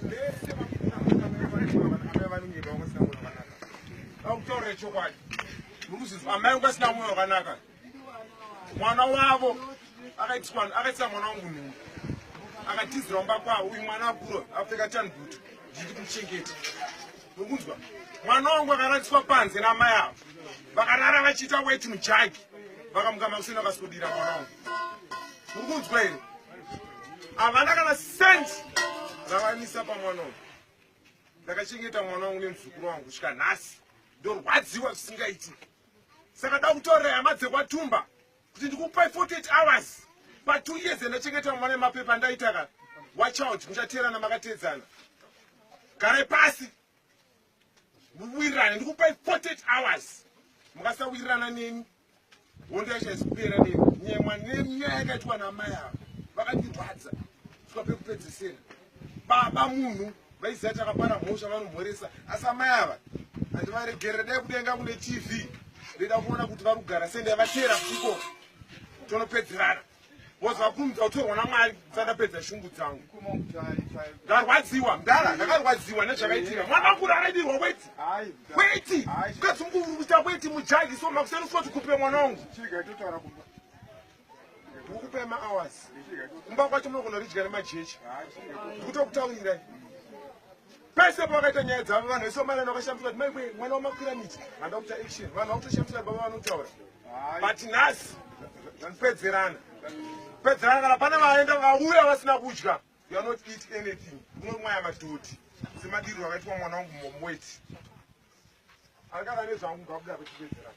vese vakuamai vanenge vaungasina mwoyo wakanaka vakutaurira chokwadi muruzizo amai ungasina mwoyo wakanaka mwana wavo akaitisa mwana wangu nhungu akatizira umba kwavo uyu mwana akura apfeka tanbutu zviti kuchengeta nokunzwa mwana wangu akaradziswa panze namai avo vakarara vachiita weti mujagi vakamuka makuseni vakasodira mwana wangu nokunzwa here havana kana sent ravanisa pamwana wangu ndakachengeta mwana wangu nemuzukuru wangu kusvika nhasi ndorwadziwa zvisingaiti saka da kutorera hama dzekwatumba kuti ndikupai 48 hours pa two years ndachengeta mwana emapepa ndaitaka watch out muchateerana makateedzana garai pasi muwirirane ndikupai 48 hours mukasawirirana neni hondo yachaizikupera neni nyemwa nenyaya yakaitwa namai ava vakandirwadza sika pekupedzesera baba munhu vaiziva chakapara mhosva vanomhoresa asi amai ava handivaregerera dai kudenga kune tv ndoida kuona kuti vari kugara sei ndaivateera kuchikoro tonopedzerana bcause vakurumidza kutorwa namwari sandapedza shungu dzangu ndarwadziwa mdara ndakarwadziwa nezvakaitika mwana wangu raraidirwa weti weti ukadzungurukuita weti mujaji so makuseni usoti kupe mwana wangu huku paya mahours kumba kwacho munogona ridya nemajecha ndikutokutaurirai pese pavakaita nyaya dzavo vanhu vese vamarani vakashambidzwa kuti maiwe mwana wamakwira miti vanoda kuita action vanhu vakutoshambidzwa baba vanotaura but nhasi pedzerana pedzerana kana pane vaenda vauya vasina kudya you are not eat anything unomwaya madhoti semadiriro akaitwa mwana wangu momweti angava nezvangu ngakuda vechipedzerana